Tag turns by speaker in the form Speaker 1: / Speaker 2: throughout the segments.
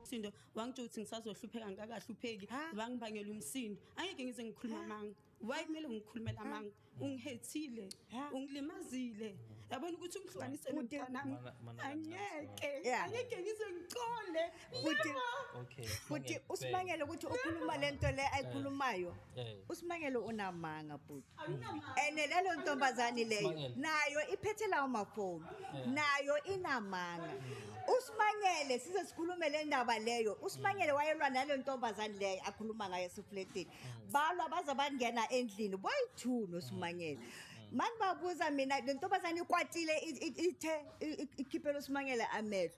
Speaker 1: Sindo wangitshela ukuthi ngisazohlupheka ngikakahlupheki wangibangela umsindo angeke ngize ngikhuluma amanga why kumele ngikhulumele amanga ungihethile ungilimazile yabona ukuthi ungihlukanise nomntanami angeke angeke ngize ngicole futhi
Speaker 2: futhi usibangele ukuthi ukhuluma lento le ayikhulumayo Eh. usimangele unamanga bhuti and lelo ntombazane leyo Simangele. nayo iphethe lawo mafoni Eh. nayo inamanga usimangele size sikhulume le ndaba leyo usimangele wayelwa nale ntombazane leyo akhuluma ngayo esifletini balwa baze bangena endlini boyi-two nosimangele mani babuza mina le ntombazane ikwatile i- i- ithe i- i- ikhiphela usimangele amehlo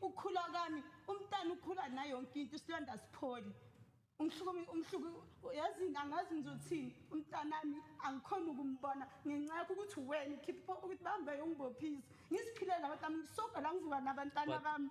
Speaker 1: Ukukhula kwami umntana ukhula nayo yonke into isilonda sipholi. Umhluku umhluku yazi angazi ngizothini umntanami angikhona ukumbona ngenxa yakho ukuthi wena ukhipha ukuthi bambe ungibophise. Ngiziphilela abantu bami ngisoga la ngivuka nabantwana bami.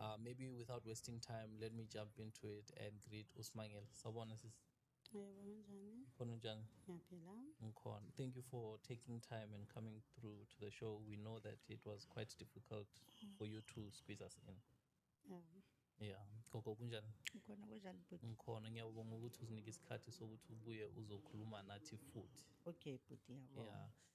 Speaker 3: Uh, maybe without wasting time, let me jump into it and greet Usmangel. Sabona sis. Yebo kanjani? Khona njani? Ngiyaphila. Ngikhona. Thank you for taking time and coming through to the show. We know that it was quite difficult for you to squeeze us in. Yeah. Yeah. Gogo kunjani? Ngikhona kunjani bhuti? Ngikhona. Ngiyabonga ukuthi uzinike isikhathi sokuthi ubuye uzokhuluma nathi futhi. Okay bhuti yabo.
Speaker 2: Yeah.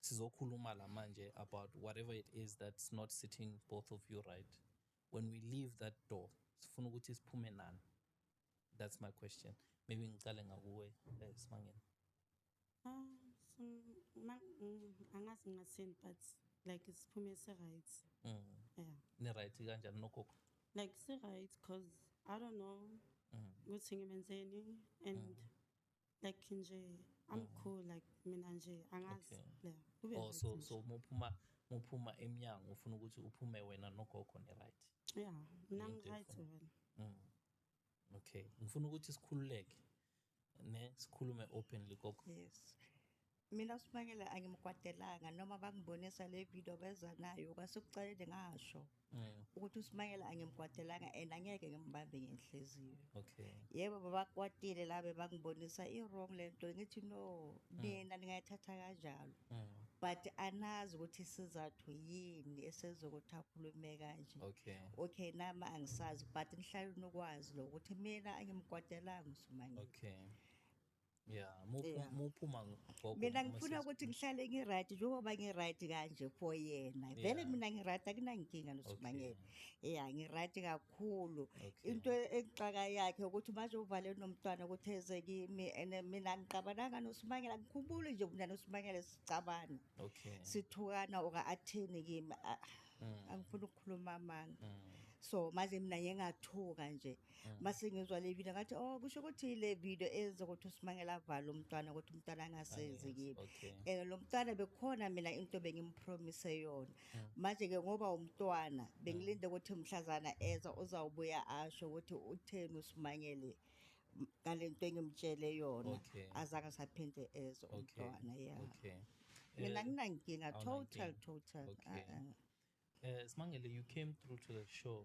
Speaker 3: sizokhuluma la manje about whatever it is that's not sitting both of you right when we leave that door sifuna ukuthi siphume nani that's my question maybe ngicale ngakuwe eh, simangeni ah,
Speaker 1: mm, angazi ngasini but like siphume si-right mm. yeah.
Speaker 3: ni-right kanjani nogogo like si-right
Speaker 1: because i don't know mm. ukuthi ngimenzeni and mm. like nje i'm cool like mina nje angazi Okay. yeah kube oh right so nje.
Speaker 3: so muphuma muphuma emnyango ufuna ukuthi uphume wena nogogo ni right yeah mina Into
Speaker 1: ngi-right efuna- wena Mm.
Speaker 3: okay ngifuna ukuthi sikhululeke ne sikhulume openly gogo yes
Speaker 2: Mina uSibakela angimkwatelanga noma bangibonisa le video beza nayo kwasekucaleni ngasho Mm. ukuthi uSimakela angimkwatelanga and angeke ngimbambe ngenhliziyo Okay. yebo
Speaker 3: babakwatile
Speaker 2: la bebangibonisa i-wrong le nto ngithi no nina ningayithatha kanjalo Mm. but anazi ukuthi isizathu yini esenza ukuthi akhulume kanje Okay. okay nami angisazi but nihlale nokwazi lo ukuthi mina angimkwatelanga uSimakela Okay.
Speaker 3: Yeah, muphu- Yeah. muphuma gogo mina noma ngifuna sisi. ukuthi
Speaker 2: ngihlale ngiright njengoba ngiright kanje for yena vele Yeah. mina ngiright akunankinga nosibangela Okay. ya ngiright kakhulu Okay. into exaka yakhe ukuthi manje uvale nomntwana ukuthi eze kimi and mina ngiqabananga nosibangela ngikhumbule nje mina nosibangela sicabana Okay. sithukana oka athini kimi ah, Mm. angifuni ukukhuluma amanga Mm. so manje mina ngingathuka nje Mm. mase ngizwa le video ngathi oh kusho ukuthi le video eyenza ukuthi uSimangela avale umntwana ukuthi umntwana angasenzi kimi Ah, okay. eh lo mntwana bekhona mina into bengimpromise yona Mm. manje ke ngoba umntwana bengilinde ukuthi mhlazana eza uzawubuya asho ukuthi utheni uSimangele m- ngalento engimtshele yona Okay. azange saphinde eze Okay. umntwana yeah Okay. mina Eh, nginankinga awunankinga. total total Okay. ah, ah.
Speaker 3: Eh, Smangele, you came through to the show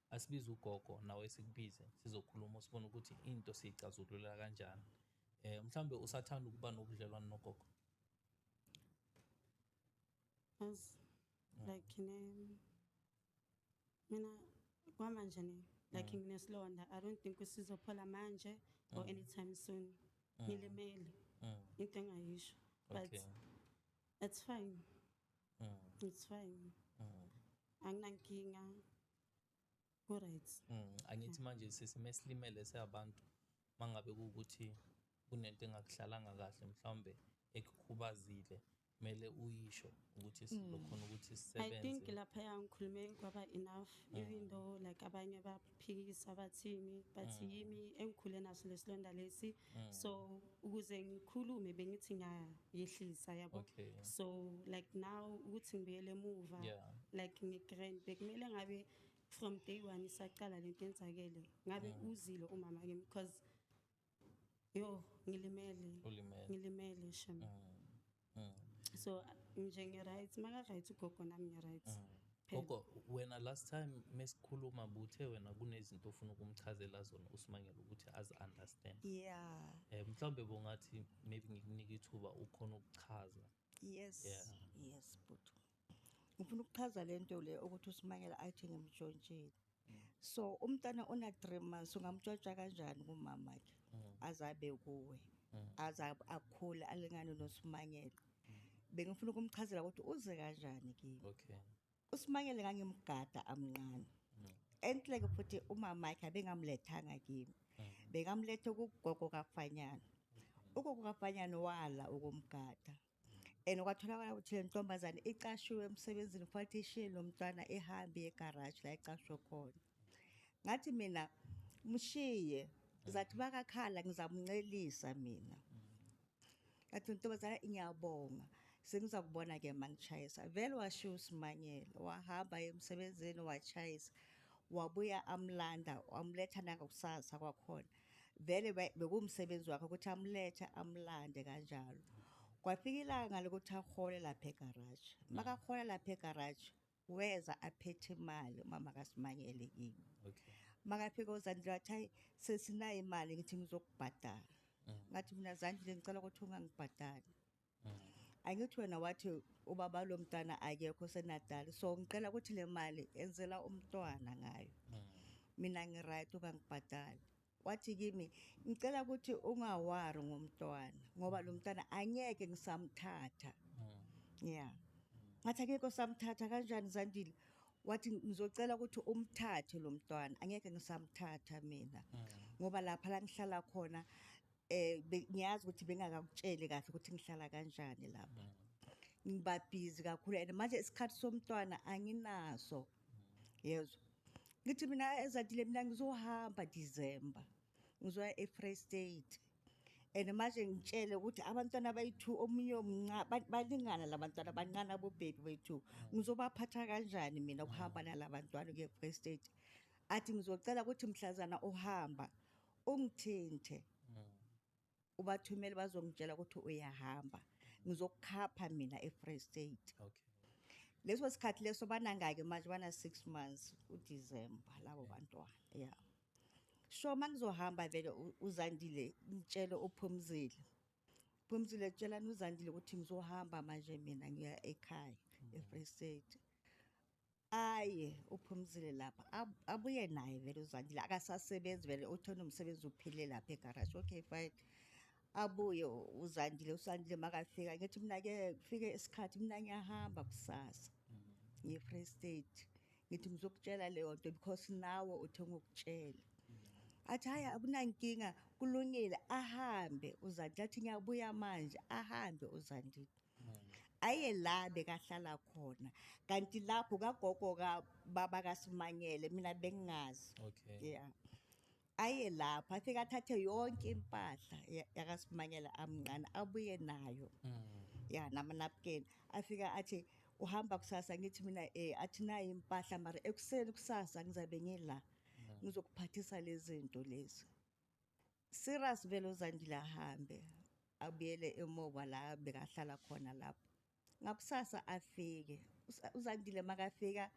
Speaker 3: Asibize ugogo nawe sikubize sizokhuluma usibone ukuthi into siyicazululela kanjani. Eh mhlambe usathanda ukuba nobudlelwane nogogo.
Speaker 1: As mm. like ne mina kwamanje ne like mm. nginesilonda I don't think usizophola manje or mm. anytime soon. Ngilimele. Into engayisho but it's fine. Mm. It's fine. Mm. Anginankinga. Ku right.
Speaker 3: Mm. Angithi manje sesime silimele seabantu mangabe ukuthi kunento engakuhlalanga kahle mhlawumbe ekukhubazile kumele uyisho ukuthi mm. sizokhona ukuthi sisebenze. I think lapha yangikhulume
Speaker 1: kwaba enough mm. even though like abanye baba phikisa bathini but mm. yimi engikhule naso lesilonda lesi mm. so ukuze ngikhulume bengithi ngiyayehlisa yabo okay. so like now ukuthi ngibuyele emuva yeah. like ngigrand bekumele ngabe from day one isaqala lento yenzakele ngabe mm. uzile umama kimi because Yo, ngilimele. Ulimele. Ngilimele shem. Mm. Mm. So nje ngi right, maka right ugogo nami ngi right. Mm. Phela. Gogo
Speaker 3: wena last time mesikhuluma buthe wena kunezinto ofuna ukumchazela zona uSimangele ukuthi azi understand. Yeah. Eh mhlawumbe bongathi maybe ngikunike ithuba ukhona ukuchaza. Yes.
Speaker 2: Yeah. Yes, bhuti. ngifuna ukuchaza le nto le ukuthi usimangela athi ngimtshontshile so umntana ona three months ungamtshotsha kanjani kumama ke mm. azabe kuwe mm. aze akhule alingane nosimangela mm. bengifuna ukumchazela ukuthi uze kanjani kimi okay usimangele ngangimgada amncane enhle ke futhi umama ke abengamlethanga kimi bekamlethe kugogo kafanyana ugogo kafanyana wala ukumgada and kwatholakala ukuthi le ntombazane icashiwe emsebenzini futhi ishiye lo mntwana ehambe egaraji la icashwe khona ngathi mina mshiye zathi bakakhala ngizamncelisa mina ngathi ntombazane ngiyabonga sengiza kubona ke mangishayisa vele washiya usimanyela wahamba emsebenzini washayisa wabuya amlanda wamletha nangokusasa kwakhona vele be- bekuwumsebenzi wakhe ukuthi amulethe amulande kanjalo kwafika ilanga lokuthi ahole lapha egaraji makahole lapha egaraji weza aphethe imali umama kasimanyele kimi Okay. makafika uzandile wathi hayi sesinayo imali ngithi ngizokubhadala ngathi mina zandile ngicela ukuthi ungangibhadali angithi wena wathi ubaba lo mntana akekho senadali so ngicela ukuthi le mali enzela umntwana ngayo mina ngiright ukangibhadali wathi kimi ngicela ukuthi ungawari ngomntwana ngoba lo mntwana angeke ngisamthatha ya ngathi akekho samthatha kanjani zandile wathi ngizocela ukuthi umthathe lo mntwana angeke ngisamthatha mina ngoba lapha la ngihlala khona eh be- ngiyazi ukuthi bengakakutsheli kahle ukuthi ngihlala kanjani lapha ngiba busy kakhulu and manje isikhathi somntwana anginaso yezwa ngithi mina ezatile mina ngizohamba december ngizoya e-free state and manje ngitshele ukuthi abantwana bayi-two omunye omnca- ba- balingana la bantwana bancane abobhebi bethu ngizobaphatha kanjani mina ukuhamba nala bantwana kuye-free state athi ngizocela ukuthi mhlazana uhamba ungithinte ubathumele bazongitshela ukuthi uyahamba ngizokukhapha mina e-free state okay
Speaker 3: leso sikhathi
Speaker 2: leso banangake manje bana-six months udecember labo bantwana ya yeah. so uma ngizohamba vele uzandile ngitshele uphumzile phumzile tshelani uzandile ukuthi ngizohamba manje mina ngiya ekhaya mm. e-free state Aye uphumzile lapha abuye naye vele uzandile akasasebenzi vele uthona umsebenzi uphile lapha egaraji okay fine abuye uzandile usandile makafika ngithi mina ke kufike isikhathi mina ngiyahamba kusasa ngiye free state ngithi ngizokutshela leyo nto because nawe uthe ngokutshela athi hhayi akunankinga kulungile ahambe uzandile athi ngiyabuya manje ahambe uzandile aye la bekahlala khona kanti lapho kagogo kababa kaSimanyele mina bengingazi okay
Speaker 3: yeah
Speaker 2: aye lapho afike athathe yonke impahla yakaSimanyele amncane abuye nayo mm. ya namanapukeni afike athi uhamba kusasa ngithi mina eh athi nayo impahla mara ekuseni kusasa ngizabe ngila mm. ngizokuphathisa lezi zinto lezi Serious vele uZandile ahambe abuyele emuva la bekahlala khona lapho. Ngakusasa afike. Usa- UZandile makafika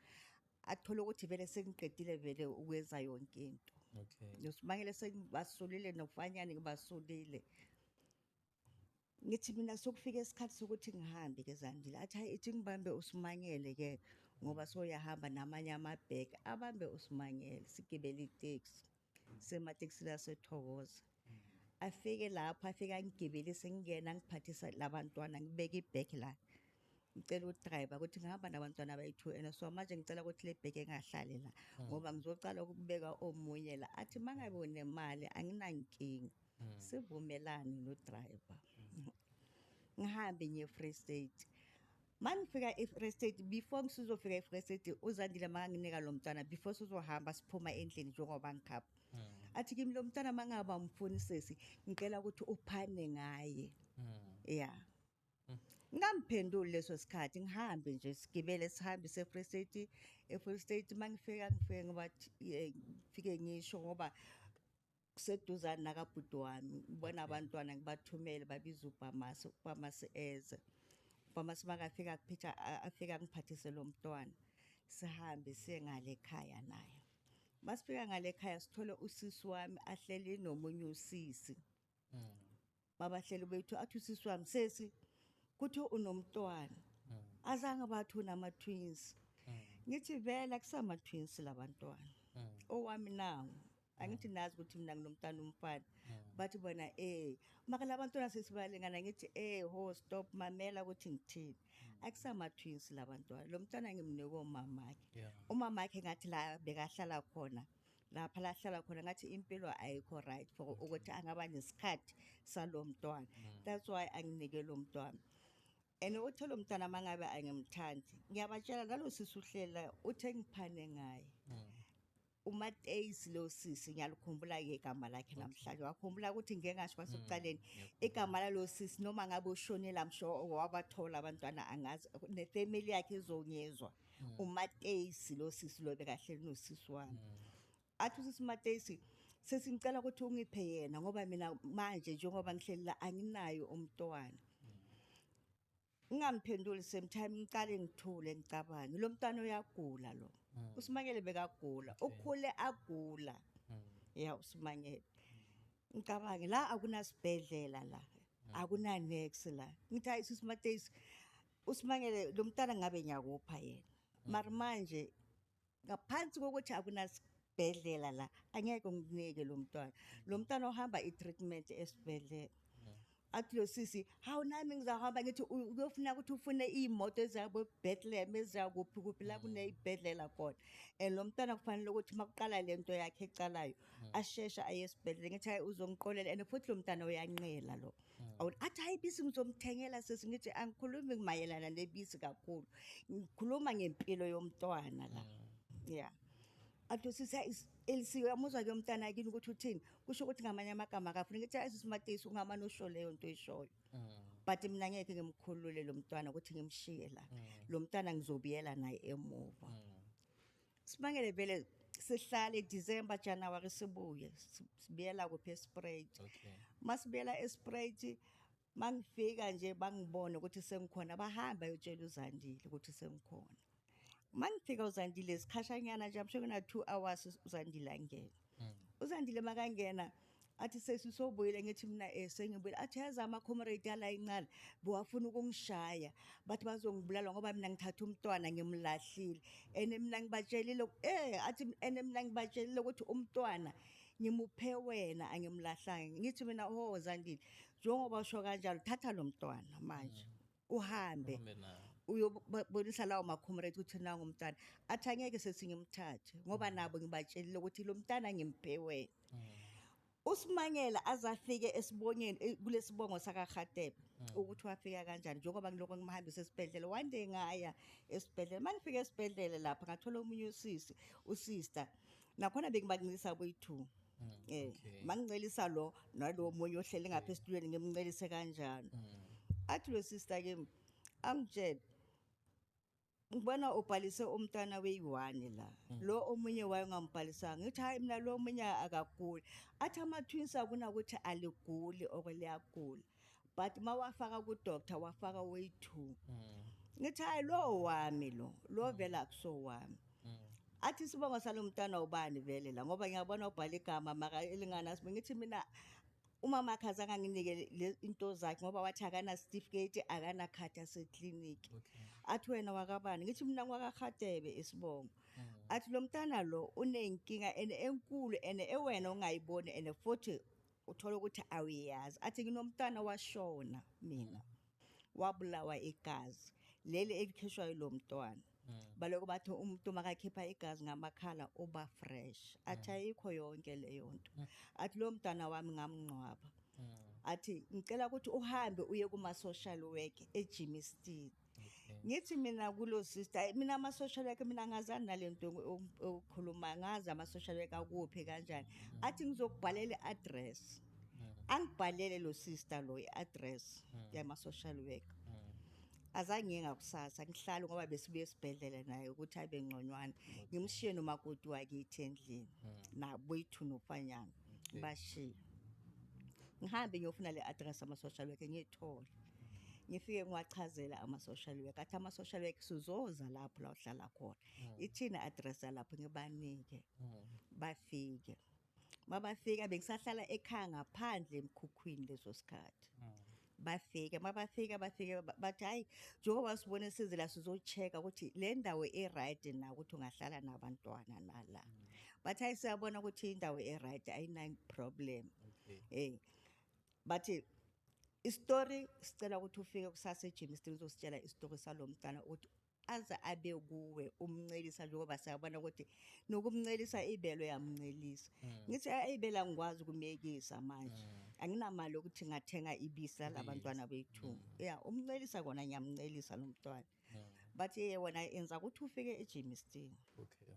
Speaker 2: athole ukuthi vele sengiqedile vele ukwenza yonke into. Okay. Ngisibangele sengibasulile nofanyane ngibasulile. Ngithi mina sokufika isikhathi sokuthi ngihambe-ke Zandile. Athi hhayi ithi ngibambe uSimangele-ke ngoba soyahamba namanye amabheki. Abambe uSimangele sigibele iteksi. Sematekisini asethokoza. Afike lapho afike angigibelise ngingena ngiphathisa labantwana ngibeke ibheki la. Ngicela udrayiva ukuthi ngihamba nabantwana abayi-two and so manje ngicela ukuthi le bheki engahlali la ngoba ngizocala ukubeka omunye la. Athi uma ngabe unemali anginankinga. sivumelane nodriver ngihambe ngiye e-free state ma ngifika e-free state before ngisizofika e-free state uzandile makanginika lo mntwana before sizohamba siphuma endlini njengoba ngikhapha hmm. athi kimi lo mntwana ma ngaba mfuni sesi ngicela ukuthi uphane ngaye hmm. ya hmm. ngamphenduli leso sikhathi ngihambe nje sigibele sihambe se-free state e-free state ma ngifika ngifike ngoba ngifike ngisho ngoba kuseduzane nakabhuti wami ngibona abantwana ngibathumele babiza ubhamasi ubhamasi eze ubhamasi makafika kuphitha afika ngiphathise lo mntwana sihambe siye ngale khaya naye masifika ngale khaya sithole usisi wami ahleli nomunye usisi mm. babahleli bethu athi usisi wami sesi kuthiwa unomntwana azange bathi unama-twins ngithi vele akusama-twins la bantwana owami nangu angithi nazi ukuthi mina nginomntana umfana bathi bona eh maka la bantwana sesibalingana ngithi eh ho stop mamela ukuthi ngithini akusama-twins la bantwana lo mntwana ngimnike umamakhe Yeah. umamakhe ngathi la bekahlala khona lapha la ahlala khona ngathi impilo ayikho right for ukuthi angaba nesikhathi salo mntwana that's why anginike lo mntwana and uthe lo mntwana uma ngabe angimthandi ngiyabatshela nalo sisi uhlela uthe ngiphane ngaye umateyisi lo sisi ngiyalukhumbula ke igama lakhe namhlanje wakhumbula ukuthi ngeke ngasho kwasekuqaleni igama lalo sisi noma ngabe ushonile amsho wabathola abantwana angazi nefamily yakhe izonyezwa hmm. umateyisi lo sisi lo bekahleli nosisi wami hmm. athi usisi umateyisi sesingicela ukuthi ungiphe yena ngoba mina manje njengoba ngihleli la anginayo umntwana ngingamphenduli same time ngiqale ngithule ngicabange lo mntwana uyagula lo mm. usimangele bekagula ukhule agula mm. ya usimangele ngicabange la akunasibhedlela la mm. akunanex la ngithi ayisisi mateys uSimangele lo mntana ngabe ngiyakupha yena mm. mara manje ngaphansi kokuthi akunasibhedlela la angeke ngikunike lo mntwana lo mntwana ohamba i-treatment esibhedlela mm. athi lo sisi hawu nami ngizahamba ngithi uyofuna ukuthi ufune iy'moto eziyabo bethlehem eziyakuphi kuphi la mm. kuney'bhedlela khona and lo mntwana kufanele ukuthi uma kuqala le nto yakhe ecalayo asheshe aye esibhedlela ngithi hayi uzongiqolela and futhi lo mntana uyanqela lo Mm. Awu athi hayi bisi ngizomthengela sisi ngithi angikhulumi mayelana nebisi kakhulu. Ngikhuluma ngempilo yomntwana la. Mm. Yeah. Athi sisi elisiwe amuzwa ke umntana kini ukuthi uthini. Kusho ukuthi ngamanye amagama akafuni ngithi hayi sisi Matisi ungama nosho leyo nto ishoyo. Mm. But mina ngeke ngimkhulule lo mntwana ukuthi ngimshiye la. Lo mntwana ngizobiyela naye emuva. Sibangele vele sihlale December January sibuye si- sibuyela kuphi esprate. Okay. Masibuyela esprate mangifika nje bangibone ukuthi sengikhona bahamba yotshela uZandile ukuthi sengikhona. Mangifika uZandile sikhashanyana nje amsho kuna 2 hours uZandile angena. mm. usandile makangena athi sesi sobuyile ngithi mina eh sengibuyile athi yazi ama comrade yala incala bowafuna ukungishaya bathi bazongibulala ngoba mina ngithatha umntwana ngimlahlile ene mina ngibatshelile eh athi ene mina ngibatshelile ukuthi umntwana ngimuphe wena angimlahlanga ngithi mina ho zandile njengoba usho kanjalo thatha lo mntwana manje mm. uhambe Uhambe naye. uyobonisa lawo makhomrade ukuthi nangu umntana athi angeke sethi ngimthathe ngoba nabo ngibatshelile ukuthi lo mntana ngimphe wena usimangela azafike esibonyeni eh, kulesibongo sakaRhatebe ukuthi wafika kanjani njengoba ngiloko ngimhambisa esibhedlela one day ngaya esibhedlela mangifika esibhedlela lapha ngathola omunye usisi usister nakhona bengibancelisa boyi-two Mm, um okay. mangincelisa lo nalowo munye ohleli ngapha esitulweni ngimncelise kanjalo Mm. athi lo sister kimi angitshele ngibona ubhalise umntana weyi-one la Mm. lo omunye wayo ngambhalisanga ngithi hhayi mina lo omunye akaguli athi ama-twins akunakuthi aliguli or liyagula but uma wafaka ku-doctor wafaka oyi-two mm. ngithi hhayi lo wami lo lo mm. vele akusowami mm. athi isibongo salo mntana ubani vele la ngoba ngiyabona ubhala igama maka elinganasimo ngithi mina umama akhe azange anginike into zakhe ngoba wathi akanasitifiketi akanakhadi asekliniki athi wena wakabani ngithi mina ngwakahadebe isibongo athi lo mntana lo unenkinga and enkulu and ewena ongayiboni and futhi uthola ukuthi awuyazi athi nginomntana washona mina wabulawa igazi leli elikhishwayo lo mntwana hmm. baloko bathi umuntu makakhipha igazi ngamakhala uba fresh athi hmm. ayikho yonke leyo nto hmm. athi lo mntana wami ngamngcwaba athi ngicela ukuthi uhambe uye kuma-social work ejimistin ngithi mina kulo sister hayi mina ama-social worker mina angazani nale nto okhuluma ngazi ama-social worker akuphi kanjani mm. athi ngizokubhalela i-address mm. angibhalele lo sister lo i-address mm. yama-social worker azange ngiye ngakusasa ngihlale ngoba besibuye esibhedlela naye ukuthi abe ngconywana ngimshiye nomakoti wakithi endlini naboyithu nofanyana ngibashiye ngihambe ngiyofuna le-address ama-social worker ngiyithole Ngifike ngiwachazela ama-social work athi ama-social work suzoza lapho la uhlala khona hmm. ithini address yalapho ngibanike hmm. bafike mabafika bengisahlala ekhaya ngaphandle emkhukhwini leso sikhathi hmm. bafike mabafika bafike bathi hayi njengoba sibone size la sizocheka ukuthi le ndawo e-right na ukuthi ungahlala nabantwana nala bathi hayi siyabona ukuthi indawo e-right ayina-problem um okay. hey. bathi isitori sicela ukuthi ufike kusasa ejini sidinga uzositshela isitori salo mntana ukuthi aze abe kuwe umncelisa njengoba siyabona ukuthi nokumncelisa ibelo yamncelisa hmm. ngithi ayibela ngikwazi ukumyekisa manje hmm. anginamali yokuthi ngathenga ibisi lalabantwana bethu hmm. ya umncelisa kona ngiyamncelisa lo mntwana but yona enza ukuthi ufike ejimistini okay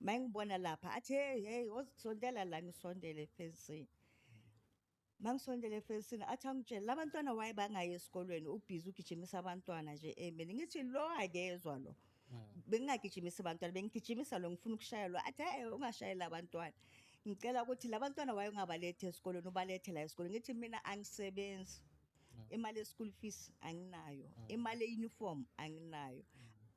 Speaker 2: uma engibona lapha athi hey hey wozisondela la ngisondele efensini uma ngisondele efensini athi angitshele la bantwana waye bangayi esikolweni ubhizi ugijimisa abantwana nje emini ngithi lo akezwa lo bengingagijimisi abantwana bengigijimisa lo ngifuna ukushaya lo athi hey ungashayela abantwana ngicela ukuthi la bantwana waye ungabalethi esikolweni ubalethe la esikolweni ngithi mina angisebenzi imali ye-school fees anginayo imali ye-uniform anginayo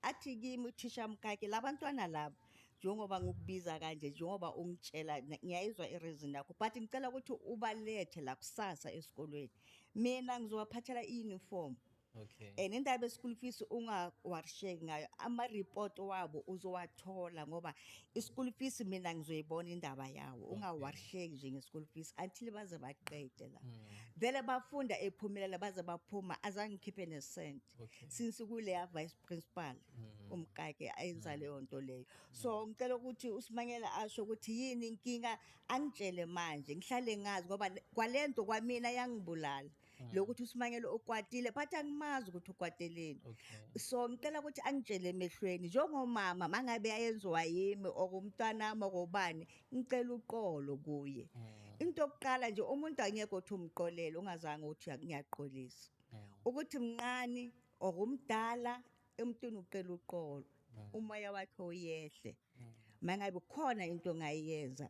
Speaker 2: athi kimi uthisha mkake labantwana laba njengoba ngikubiza kanje njengoba ungitshela na- ngiyayizwa i-reason yakho but ngicela ukuthi ubalethe la kusasa esikolweni mina ngizobaphathela i-uniform okay
Speaker 3: and indaba ye-school
Speaker 2: fees ungawarisheki ngayo ama-report wabo uzowathola ngoba I-school fees mina ngizoyibona indaba yawo ungawarsheki nje nge-school fees until baze baqede la hmm. vele bafunda ephumelela baze baphuma azange ngikhiphe nesent since kuleya
Speaker 3: vice
Speaker 2: principal hmm. umkake ayenza hmm. leyo nto leyo so ngicela ukuthi usimanyela asho ukuthi yini inkinga angitshele manje ngihlale ngazi ngoba kwale nto kwamina yangibulala mm. lokuthi uSimangele ukwatile but angimazi ukuthi ukwateleni okay. so ngicela
Speaker 3: ukuthi
Speaker 2: angitshele emehlweni njengomama mangabe yayenziwa yimi okumntanami okobani ngicela uqolo kuye mm. into yokuqala nje umuntu angeke uthi umqolele ungazange uthi ngiyaqolisa mm. ukuthi mnqani okumdala emntwini uqela uqolo mm. umoya wakhe uyehle mm. mangabe khona into ngayenza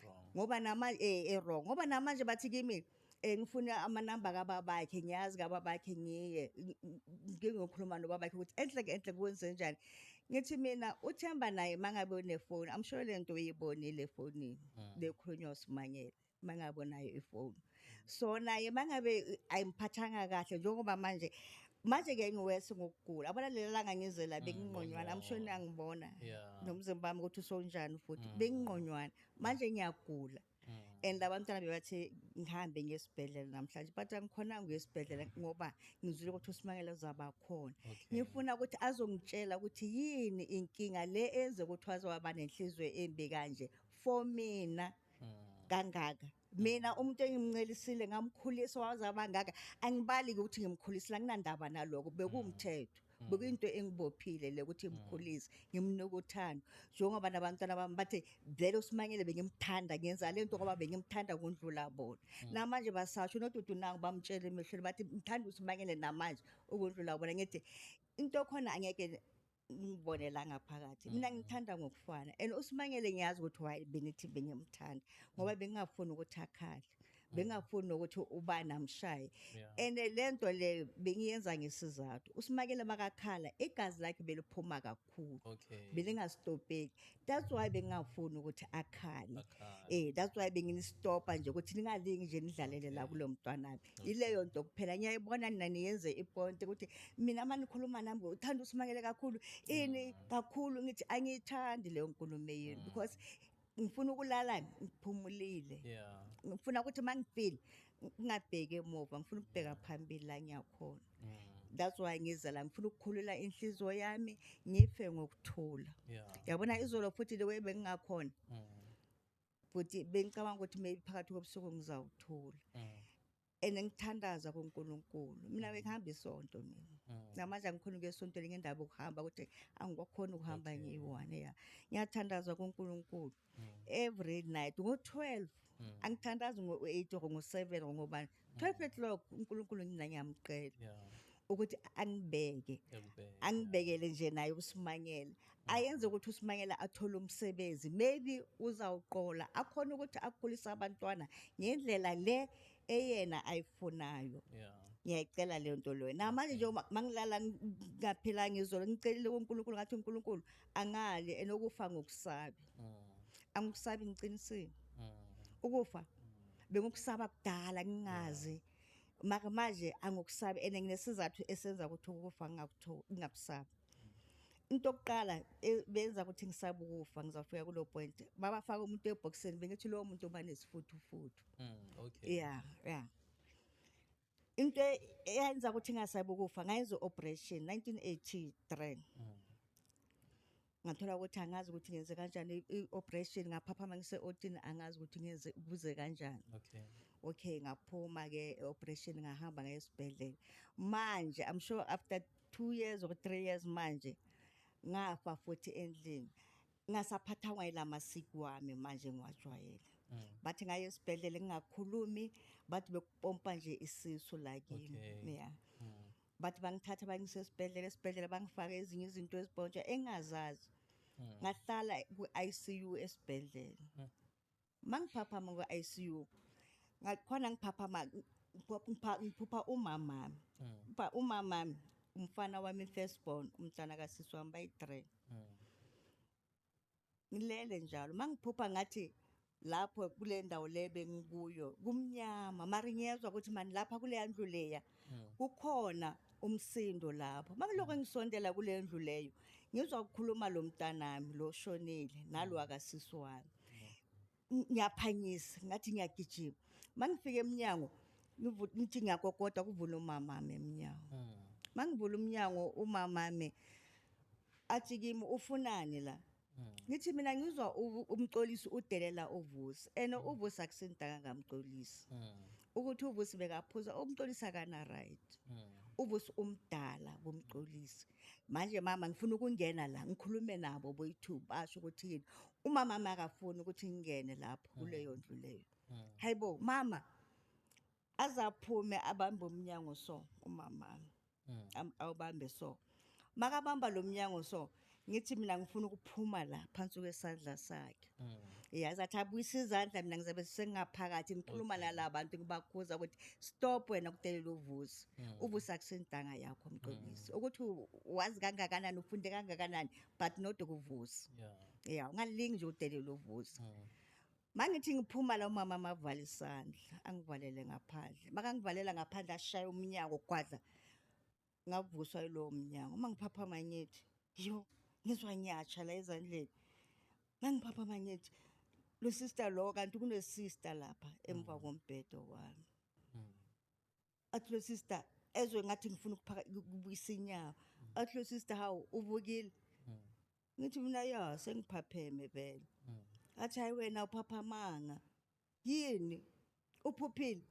Speaker 2: wrong ngoba
Speaker 3: namanje
Speaker 2: eh eh, wrong ngoba namanje bathi kimi eh ngifuna amanamba kababakhe ngiyazi kababakhe ngiye ng- ng- ngingokhuluma nobabakhe ukuthi enhle ke enhle kwenze njani ngithi mina uthemba naye mangabe unefoni amsho lento uyibonile efonini lekhulunywa usimanyele mangabe unayo ifoni so naye mangabe ayimphathanga kahle njengoba manje manje ke ngiwese ngokugula abona lelanga ngizela mm, benginqonywana amshoni angibona nomzimba wami ukuthi usonjani futhi mm. benginqonywana manje ngiyagula Mm. and abantwana bebathi ngihambe ngiye esibhedlela namhlanje but angikhonanga ukuya esibhedlela ngoba ngizwile ukuthi usimangele uzaba khona ngifuna ukuthi azongitshela ukuthi yini inkinga le enze ukuthi waze waba nenhliziyo embi kanje for mina mm. kangaka mina umuntu engimncelisile ngamkhulisa waze abangaka angibali-ke ukuthi ngimkhulisile anginandaba naloko bekuwumthetho Mm. bekuyinto engibophile le ukuthi mm. ngimkhulise ngimnika uthando njengoba nabantwana bami bathe vele usimanyele bengimthanda ngenza le nto ngoba bengimthanda kundlula bona mm. namanje basasho nodudu nangu bamtshele emehlweni bathi mthanda usimanyele namanje ukundlula bona ngithi into khona angeke ngibone la ngaphakathi mina ngithanda ngokufana and usimangele ngiyazi ukuthi why benithi bengimthanda ngoba bengingafuni ukuthi akhale bengingafuni nokuthi ubani amshaye Yeah. and le nto le bengiyenza ngesizathu usimangele makakhala igazi lakhe beliphuma kakhulu okay belingasitopeki that's why bengingafuni ukuthi akhale eh that's why benginistopa nje ukuthi ningalingi nje nidlalele la kulo mntwanami ileyo nto kuphela ngiyayibona nina niyenze iponte ukuthi mina uma nikhuluma nami uthanda usimakele kakhulu ini mm. kakhulu ngithi angiyithandi leyo nkulumo yenu mm. because ngifuna ukulala ngiphumulile ngifuna ukuthi uma ngifile ngingabheki emuva ngifuna ukubheka phambili la ngiyakhona mm. that's why ngiza la ngifuna ukukhulula inhliziyo yami ngife ngokuthula yabona izolo futhi le way bengingakhona mm. futhi bengicabanga ukuthi maybe phakathi kobusuku ngizawuthula mm. and ngithandaza kuNkulunkulu mina bengihamba isonto mina namanje angikhona ukuya esontweni ngendaba okuhamba ukuthi angikwakhona ukuhamba ngiyi-one ya ngiyathandaza kuNkulunkulu every night ngo-12 Mm. angithandazi ngo-8 or ngo-7 or ngobani 12 o'clock unkulunkulu ngina ngiyamcela Yeah. ukuthi angibeke Ekubheke. angibekele nje naye usimangela ayenze ukuthi usimangela athole umsebenzi maybe uzawuqola akhona ukuthi akhulise abantwana ngendlela le eyena ayifunayo Yeah. ngiyayicela leyo nto leyo namanje nje uma- mangilala ngaphilanga izolo ngicelile kunkulunkulu ngathi unkulunkulu angale enokufa ngokusabi angikusabi ngiqinisile ukufa bengikusaba kudala ngingazi maka manje angikusabi and nginesizathu esenza ukuthi ukufa ngingakusabi into yokuqala e, benza ukuthi ngisabe ukufa ngizawufika kulo point babafaka umuntu ebhokisini bengithi lowo muntu uba nesifuthufutu mm, okay. yeah yeah into e- eyenza ukuthi ngingasabi ukufa ngayenza i-operation 1983 ngathola ukuthi angazi ukuthi ngenze kanjani i- i-operation ngaphaphama ngise-otini angazi ukuthi ngenze kuze kanjani Okay. okay ngaphuma ke operation ngahamba ngaye esibhedlela manje i'm sure after 2 years or 3 years manje ngafa futhi endlini ngasaphathangwa yila masiko wami manje ngiwajwayele mm. bathi ngaye esibhedlela ngingakhulumi bathi bekupompa nje isisu la kimi okay. yeah mm. bathi bangithatha bangise esibhedlela esibhedlela bangifake ezinye izinto ezipontsha engazazi mm. ngahlala ku-ICU esibhedlela mm. Mangiphaphama kwi-ICU ngakhona ngiphaphama ngiphupha umamami uba mm. umamami umfana wami first born umntana kasisi wami bayi-three mm. ngilele njalo mangiphupha ngathi lapho kule ndawo le bengikuyo kumnyama mari ngiyezwa ukuthi mani lapha kuleya ndlu leya kukhona umsindo lapho makuloko engisondela kule ndlu leyo ngizwa kukhuluma lo mntanami lo shonile nalo akasisi wami Ng- ngiyaphanyisa ngathi ngiyagijima uma ngifika emnyango ngivu- ngithi ngiyakokoda kuvula umamami emnyango uma ngivula umnyango umamami athi kimi ufunani la ngithi mina ngizwa u- umxolisi udelela uvusi and uvusi akusindanga ngamxolisi ukuthi uvusi bekaphuza umxolisi akana right uvusi umdala kumxolisi manje mama ngifuna ukungena la ngikhulume nabo boyi-two basho ukuthi yini umama makafuni ukuthi ngingene lapho kuleyo ndlu leyo hayi bo mama azaphume abambe umnyango so umama mm. awubambe so makabamba lo mnyango so ngithi mina ngifuna ukuphuma la phansi kwesandla sakhe mm. yazi athi abuyise izandla mina ngizabe sengaphakathi ngikhuluma nala bantu ngibakhuza ukuthi stop wena kudelela uvusi mm. uvusi akusentanga yakho mxolisi mm. ukuthi wazi kangakanani ufunde kangakanani but not ukuvusi ya ungalingi nje udelela uvusi Mangithi ngiphuma la umama mavale isandla angivalele ngaphandle makangivalela ngaphandle ashaya umnyango gwadla ngavuswa yilowo mnyango uma ngiphaphama ngithi yo ngizwa ngiyatsha la ezandleni mangiphaphama ngithi lo sister lo kanti kunesister lapha emva mm. kombhedo wami mm. athi lo sister ezwe ngathi ngifuna ukubuyisa inyawo athi lo sister hawu uvukile hmm. ngithi mina ya sengiphapheme vele hmm. athi hayi wena uphaphamanga yini uphuphile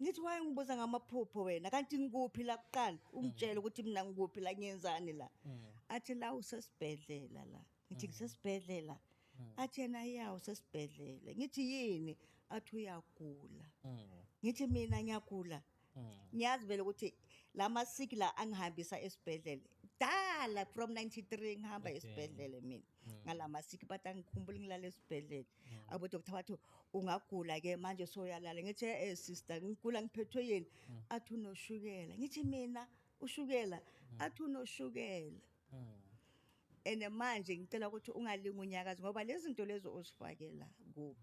Speaker 2: ngithi waye ngibuza ngamaphupho wena kanti ngikuphi la kuqala ungitshele ukuthi mina ngikuphi la ngiyenzani la athi la usesibhedlela la ngithi ngisesibhedlela athi yena ya usesibhedlela ngithi yini athi uyagula ngithi mina ngiyagula ngiyazi vele ukuthi la masiki la angihambisa esibhedlela dala from 93 ngihamba Okay. esibhedlela mina ngala masiki bathi angikhumbuli ngilala esibhedlela abodokotha bathi ungagula ke manje soyalala ngithi eh sister ngigula ngiphethwe yini athi unoshukela ngithi mina ushukela athi unoshukela and manje ngicela ukuthi ungalingi unyakazi ngoba lezi zinto lezi ozifakela kubo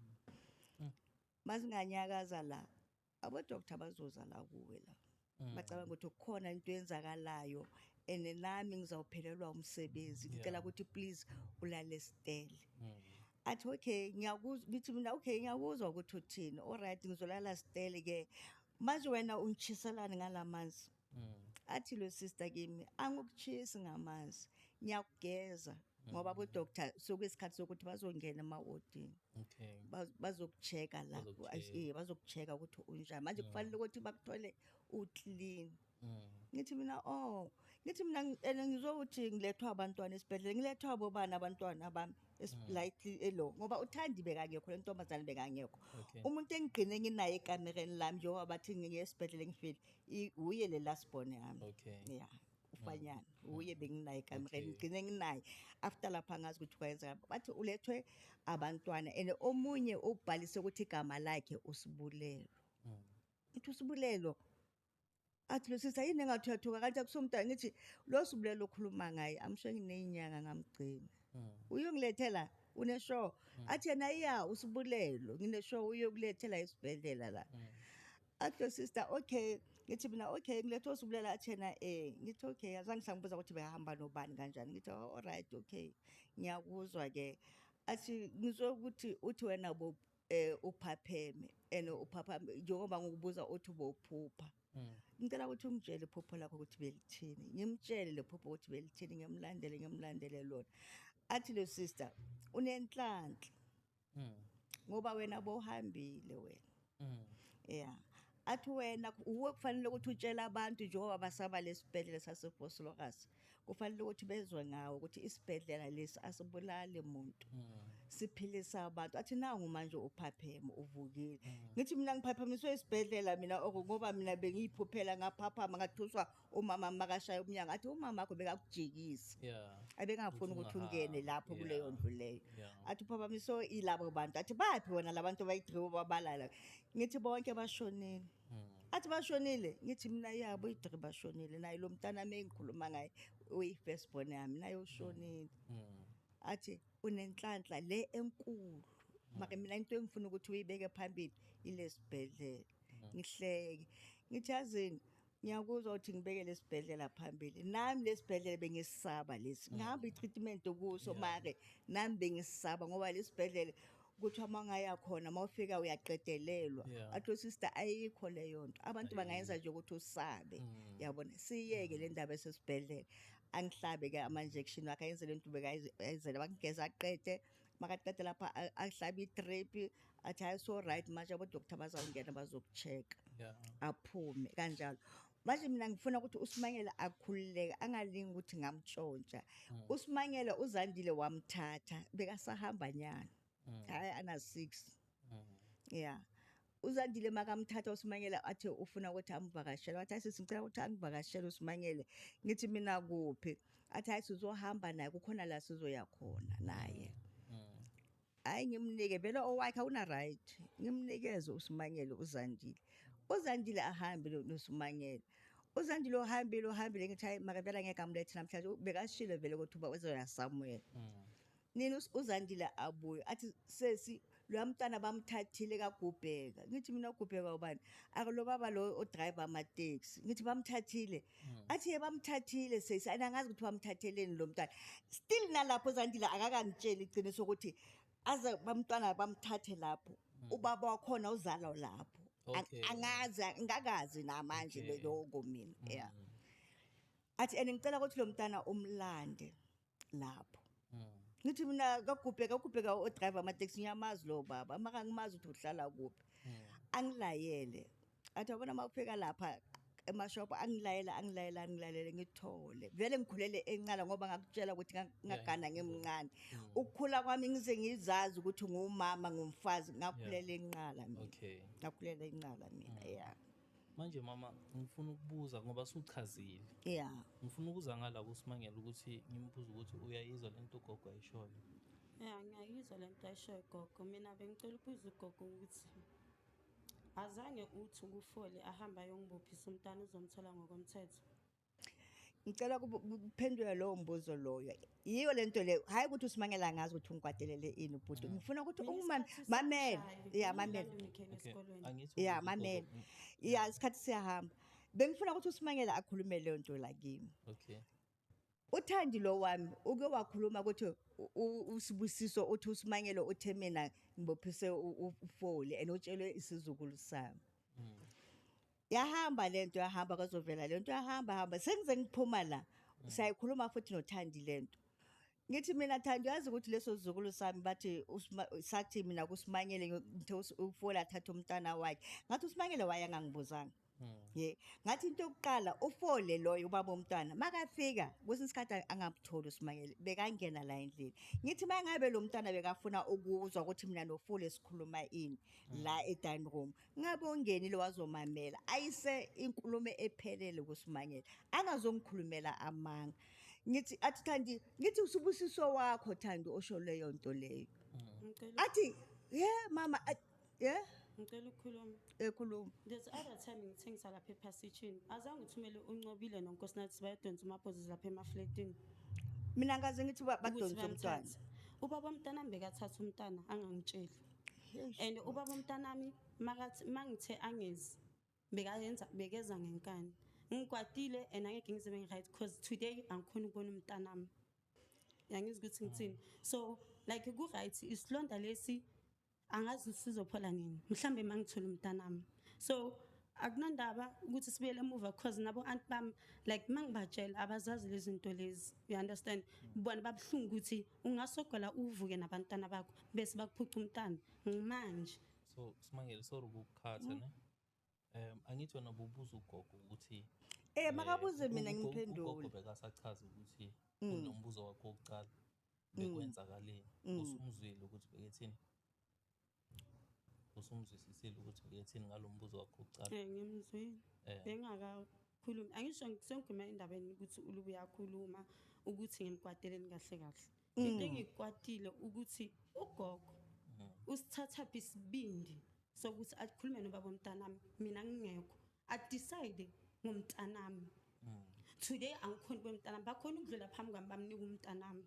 Speaker 2: mazinganyakaza la abodoktar bazoza la kuwe la bacabanga ukuthi kukhona into eyenzakalayo and nami ngizawuphelelwa umsebenzi ngicela ukuthi please ulale stele athi okay ngiyakuzwa ngithi mina okay ngiyakuzwa ukuthi uthini alright ngizolala stele ke manje wena ungishiselani ngalamanzi mm. athi lo sister kimi angikuchisi ngamanzi ngiyakugeza ngoba mm. bodoctor suke isikhathi sokuthi bazongena emawodini okay bazokucheka la eh, bazokucheka ukuthi unjani manje mm. kufanele ukuthi bakuthole uclean Mm. ngithi mina oh ngithi mina and ngizokuthi ngilethwa abantwana esibhedlela ngilethwa abobani abantwana bami eslightly mm. elo ngoba uthandi bekangekho le ntombazane bekangekho umuntu engigqine nginaye ekamereni lami njengoba bathi ngiye esibhedlela ngifile I- wuye le last born yami Okay. ya ufanyana wuye benginaye kamereni Okay. ngigcine nginaye after lapha ngazi ukuthi kwayenzeka bathi ulethwe abantwana and omunye ubhalise ukuthi igama lakhe usibulelo Mm. ngithi usibulelo athi lo sisa yini engathi uyathuka kanti akusomntwana ngithi lo sibulelo okhuluma ngaye amsho ngineyinyanga ngamgcina Mm. uyongilethela unesho athi yena iya usibulelo nginesho uyokulethela esibhedlela la Mm. Atlo sister okay ngithi mina okay ngilethwa usubulela athena eh ngithi okay azange sangibuza ukuthi behamba nobani kanjani ngithi oh, all right okay ngiyakuzwa ke athi ngizwe ukuthi uthi wena bo eh uphapheme and uphaphame njengoba ngikubuza uthi bophupha hmm. ngicela ukuthi ungitshele iphupho lakho ukuthi belithini ngimtshele lephupho ukuthi belithini ngimlandele ngimlandele lona athi lo sister unenhlanhla mm. ngoba wena bohambile wena mm. yeah athi wena uwe kufanele ukuthi utshele abantu njengoba basaba lesibhedlela saseBoslorus kufanele ukuthi bezwe ngawo ukuthi isibhedlela lesi asibulali umuntu hmm. siphilisa abantu athi nangu manje uphaphema uvukile hmm. ngithi mina ngiphaphamiswe isibhedlela mina ngoba mina bengiyiphuphela ngaphaphama ngathuswa umama makashaya umnyango athi umama wakho bekakujikisa yeah abengafuni Ukuthi ukuthi ungahamba. ungene lapho Yeah. kuleyo ndlu leyo Yeah. athi uphapamiso ilabo bantu athi baphi wona labantu bayidriwe babalala ngithi bonke bashonile Mm. athi bashonile ngithi mina yabo idri bashonile naye lo mntanami engikhuluma ngaye uyi-first born yami naye ushonile Mm. athi unenhlanhla le enkulu maka mina into engifuna ukuthi uyibeke phambili ilesibhedlela ngihleke ngithi yazini ngiyakuzwa ukuthi ngibeke lesibhedlela phambili nami lesibhedlela bengisaba lesi mm. ngihamba i-treatment kuso make nami bengisaba ngoba lesibhedlela kuthiwa uma ungaya khona uma ufika uyaqedelelwa atho sister ayikho leyo nto abantu bangayenza nje ukuthi usabe mm. yabona siyeke le ndaba esesibhedlela angihlabe-ke ama-injection wakhe ayenzele nto ubekayenzele bakugeza aqede makaqede lapha a- ahlabe i-drip athi hayi so right manje abodoktar bazawungena bazoku-check-a Yeah. aphume kanjalo manje mina ngifuna ukuthi usimangele akhululeke angalingi ukuthi ngamtshontsha usimangele uzandile wamthatha bekasahamba nyana hhayi ana-six ya uzandile makamthatha usimangele athi ufuna ukuthi amvakashele wathi ayisisi ngicela ukuthi angivakashele usimangele ngithi mina kuphi athi hayi sizohamba naye kukhona la sizoya khona naye hayi ngimnike vele owakhe awuna-right ngimnikeze usimangele uzandile uzandile ahambe nosimangele uzandile ohambile ohambile ngithi hayi makavele angeke amlethe namhlanje bekashile vele ukuthi uba uzoyasamuela mm. Nina uZandile abuye athi sesi loya mntana bamthathile kagubheka ngithi mina ugubheka ubani akulo baba lo odriver amateksi ngithi bamthathile hmm. athi ye bamthathile sesi and angazi ukuthi bamthatheleni lo mntwana still nalapho zandile akakangitsheli iqiniso ukuthi aze bamntwana bamthathe lapho hmm. ubaba wakhona uzalwa lapho angazi ngakazi namanje loko mina yeah hmm. athi and ngicela ukuthi lo mntana umlande lapho ngithi mina kagubhe kagubhe ka odriver amateksi ngiyamazi lowo baba uma kangimazi ukuthi uhlala kuphi angilayele athi abona uma kufika lapha emashophu angilayele angilayele angilalele ngithole vele ngikhulele encala ngoba ngakutshela ukuthi nga- ngagana ngimncane ukukhula kwami ngize ngizazi ukuthi ngumama ngumfazi ngakhulela enqala mina okay ngakhulela enqala mina ya manje mama
Speaker 3: ngifuna ukubuza ngoba suchazile yeah ngifuna ukuza ngala kusimangela ukuthi ngimbuza ukuthi uyayizwa lento ugogo ayishoyo yeah ngiyayizwa
Speaker 1: lento ayishoyo gogo mina bengicela ukubuza ugogo ukuthi azange uthi ukufole ahambe ayongibophisa umntana uzomthola ngokomthetho
Speaker 2: Ngicela kube- kuphendulwe lowo mbuzo loyo. Yiyo le nto leyo. Hhayi ukuthi uSimangele angazi ukuthi ungikwatelele ini ubhuti. Ngifuna ukuthi ungimame. Mamele. Ya, mamele. Okay, angithi Ya, ukubuza mamele. ugogo- Ya, isikhathi siyahamba. Bengifuna ukuthi uSimangele akhulume leyo nto la kimi. Okay. uthandi lo wami uke wakhuluma ukuthi u- u- usibusiso uthi usimangele uthe mina ngibophise u- u- ufoli and utshelwe isizukulu sami yahamba le nto yahamba kwazovela le nto yahamba hamba sengize ngiphuma la sayikhuluma futhi nothandi le nto ngithi mina thandi uyazi ukuthi leso sizukulu sami bathi usima- sathi mina kusimanyele ngithe us- ufola athathe umntana wakhe ngathi usimanyele waye angangibuzanga ye ngathi into yokuqala ufole loyo ubaba omntwana makafika kwesinye isikhathi angamtholi usimanyele bekangena la endlini ngithi uma ngabe lo mntwana bekafuna ukuzwa ukuthi mina nofole sikhuluma ini la e-dining room Ngabongeni lo wazomamela ayise inkulumo ephelele kuSimangele angazongikhulumela amanga ngithi athi Thandi ngithi usibusiso wakho Thandi osho leyo nto leyo Ngicela athi ye mama a- ye
Speaker 1: ngicela ukukhuluma. ekhuluma There's
Speaker 2: the other time
Speaker 1: ngithengisa lapha ephasitshini. Azange uthumele uncobile nonkosinathi bayadonsa umabhozisi lapha emafletini. mina
Speaker 2: ngaze ngithi ba- ukuthi badonse umntwana bamthathe. Ubaba mntana
Speaker 1: mbekathatha umntana angangitsheli. and ubaba umntanami makathi mangithe angezi bekayenza bekeza ngenkani ngikwatile and angeke ngize bengi-right because today angikhona ukubona umntanami yangizi ukuthi ngithini so like ku-right isilonda lesi angazi sizophola nini mhlawumbe uma ngithole umntanami so akunandaba ukuthi sibuyele emuva because nabo anti bami like uma ngibatshela abazazi lezi zinto lezi you understand bona babuhlungu ukuthi ungasogola uvuke nabantwana bakho bese bakuphuca umntana manje so simangele
Speaker 3: sorry ukukhatha mm. ne um angithi wena bubuza ugogo ukuthi eh, eh makabuze
Speaker 2: mina ngiphendule ugogo bekasachaza
Speaker 3: ukuthi mm. unombuzo wakho wokuqala mm. bekwenzakaleni usumzwile ukuthi bekethini usumzwisisile ukuthi uyethini ngalo mbuzo wakho ucala um eh, ngimzwile eh.
Speaker 1: bengakakhulumi angisho sengigwima endabeni ukuthi ulubu uyakhuluma ukuthi ngimkwateleni kahle kahle mm. into engikwatile ukuthi ugogo mm. usithathaphi isibindi sokuthi akhulume nobaba omntanami mina ngingekho adecide ngomntanami mm. today angikhoni kwemntanami bakhona ukudlula phambi kwami bamnika umntanami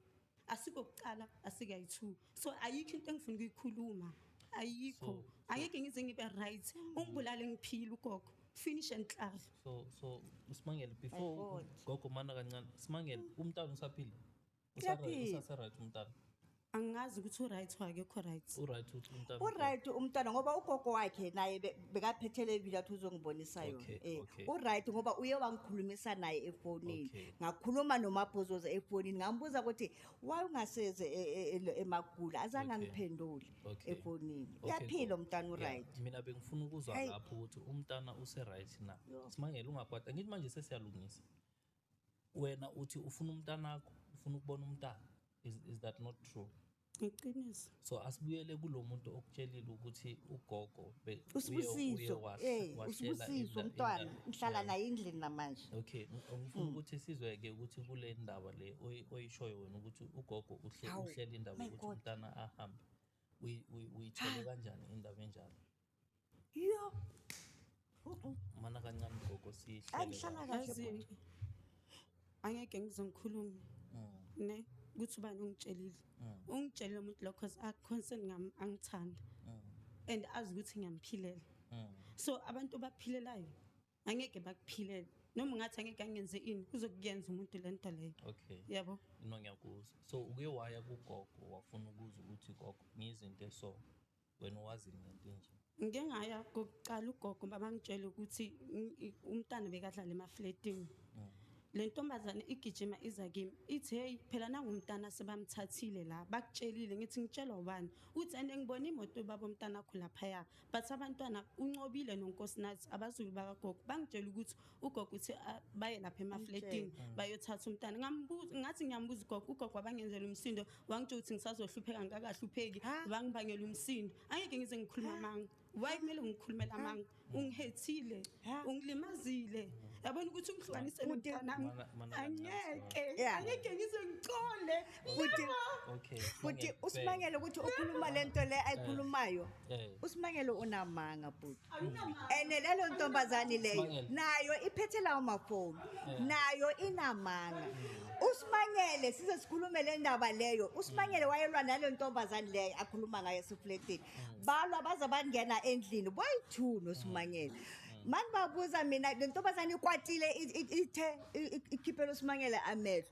Speaker 1: asikokuqala asikayi-two so ayikho into engifuna ukuyikhuluma ayikho angeke ngize ngibe right ungibulale ngiphile ugogo finish and clar so so
Speaker 3: usimangele before God. gogo umana
Speaker 2: kancane
Speaker 3: simangele umntana usaphila Uyaphila.
Speaker 2: usaseright umntana
Speaker 3: angazi ukuthi
Speaker 1: uright or akekho right uright umntana
Speaker 3: uright umntwana ngoba
Speaker 2: ugogo wakhe naye be- bekaphethele ibili athi uzongibonisa yona Okay, eh okay. uright
Speaker 3: ngoba uye
Speaker 2: wangikhulumisa naye efonini Okay. ngakhuluma
Speaker 3: nomabhozoza
Speaker 2: efonini ngambuza ukuthi why ungaseze e- e- e- emagula azange Okay. angiphendule
Speaker 3: Okay.
Speaker 2: efonini
Speaker 3: Okay, uyaphila
Speaker 2: cool. umntana
Speaker 3: Yeah, uright mina
Speaker 2: bengifuna ukuzwa
Speaker 3: Hey. lapho ukuthi umntana use-right na Yo. simangele ungakwata
Speaker 2: ngithi
Speaker 3: manje sesiyalungisa wena uthi ufuna umntanakho ufuna ukubona umntana is, is that not true
Speaker 1: Iqiniso. So asibuyele
Speaker 3: kulomuntu okutshelile ukuthi ugogo be- uye- uye usibusiso
Speaker 2: was- eh washela usibusiso inda- umntwana inda- ngihlala Yeah. naye endlini namanje Okay, ng- ngifuna
Speaker 3: ukuthi sizweke ukuthi kule ndaba le oyi- oyishoyo wena ukuthi ugogo uhle Hawu, uhlele indaba
Speaker 2: my ukuthi God.
Speaker 3: umntana
Speaker 2: ahambe.
Speaker 3: Uyi- uyi- Uyithole kanjani indaba enjalo? Yo. Uh-uh. Mana kancane gogo sihle. Angihlala
Speaker 2: kahle.
Speaker 1: Angeke ngizongikhuluma. Mm. Ne ukuthi ubani ungitshelile. Mm. Ungitshelile umuntu lokho cause a concern ngami angithanda. Mm. And azi ukuthi ngiyamphilela. So abantu baphilelayo angeke bakuphilele. noma ungathi angeke angenze ini uzokuyenza umuntu le nto leyo okay yabo
Speaker 3: no
Speaker 1: ngiyakuzwa
Speaker 3: so uke waya kugogo wafuna ukuza ukuthi gogo ngiyizinto eso wena wazi ngento enje ngike ngaya
Speaker 1: kokuqala ugogo babangitshela ukuthi umntana bekadlala emafletini mm. le ntombazane igijima iza kimi ithi heyi phela nangumntana sebamthathile la bakutshelile ngithi ngitshelwa ubani uthi and ngibona imoto baba omntana akho laphaya but abantwana uncobile nonkosinathi abazulu bakagogo bangitshela ukuthi ugogo uthi ah, baye lapha emafletini bayothatha umntana ngambuza ngathi ngiyambuza ugogo ugogo wabangenzela umsindo wangitsho ukuthi ngisazohlupheka ngikakahlupheki wangibangela umsindo angeke ngize ngikhuluma amanga why kumele ngikhulumele amanga ungihethile ungilimazile yabona ukuthi ungihlukanise nomntanami angeke angeke ngize ngicole futhi okay
Speaker 3: futhi Sibongile,
Speaker 2: usimangele ukuthi
Speaker 3: ukhuluma
Speaker 2: lento le ayikhulumayo Eh. usimangele
Speaker 3: unamanga
Speaker 2: bhuti ene lelo ntombazane leyo Usimangele. nayo iphethe
Speaker 3: lawo
Speaker 2: mafoni nayo inamanga usimangele size sikhulume le ndaba leyo usimangele wayelwa nale ntombazane leyo akhuluma ngayo esifletini balwa baze bangena endlini boyi-two nosimangele mani babuza mina le ntombazane ikwatile i- i- ithe i- i- ikhiphela usimangele amehlo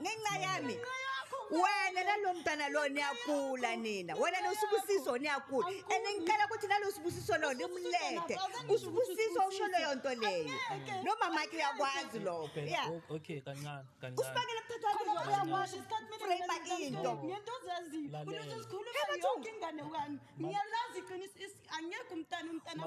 Speaker 1: ngenxa yami
Speaker 2: wena nalomntana lo niyagula nina wena nosubusiso niyagula and ngicela ukuthi nalosubusiso lo nimlete usubusiso usho leyo nto leyo nomamakhe uyakwazi lokho ya okay kancane kancane
Speaker 3: usibakele
Speaker 2: kuthathwauyakwazi frame into ngento ozaziyo
Speaker 1: unezo zikhuluma yonke ingane wami ngiyalazi
Speaker 3: iqiniso
Speaker 1: angekho umntana umntana